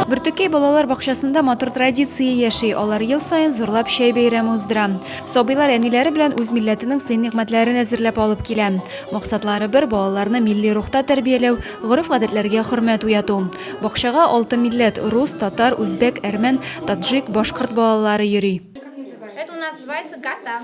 Бөртекәй балалар бакчасында матур традиция яши. Алар ел саен зурлап чәй бәйрәме уздыра. Сабыйлар әниләре белән үз милләтенең сый-нигъмәтләрен әзерләп алып килә. Максатлары бер, балаларны милли рухта тәрбияләү, гореф-гадәтләргә хөрмәт уяту. Бакчага алты милләт, рус, татар, үзбәк, әрмән, таджик, башкорт балалары йөри. Это у нас называется гата.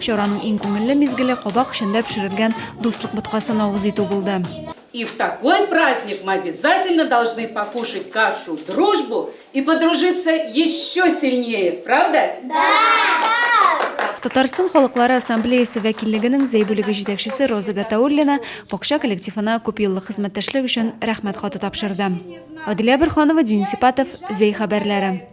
Чараның иң күңелле мизгеле кабак эчендә пешерелгән Дуслык боткасын авыз итү булды. И в такой праздник мы обязательно должны покушать кашу дружбу и подружиться еще сильнее, правда? Да! Татарстан халыклары ассамблеясе вәкиллегенең Зәй бүлеге җитәкчесе Роза Гатауллина бакча коллективына күпьеллык хезмәттәшлек өчен Рәхмәт хаты тапшырды. Адилә Бөрханова, Дин Сипатов, Зәй хәбәрләре.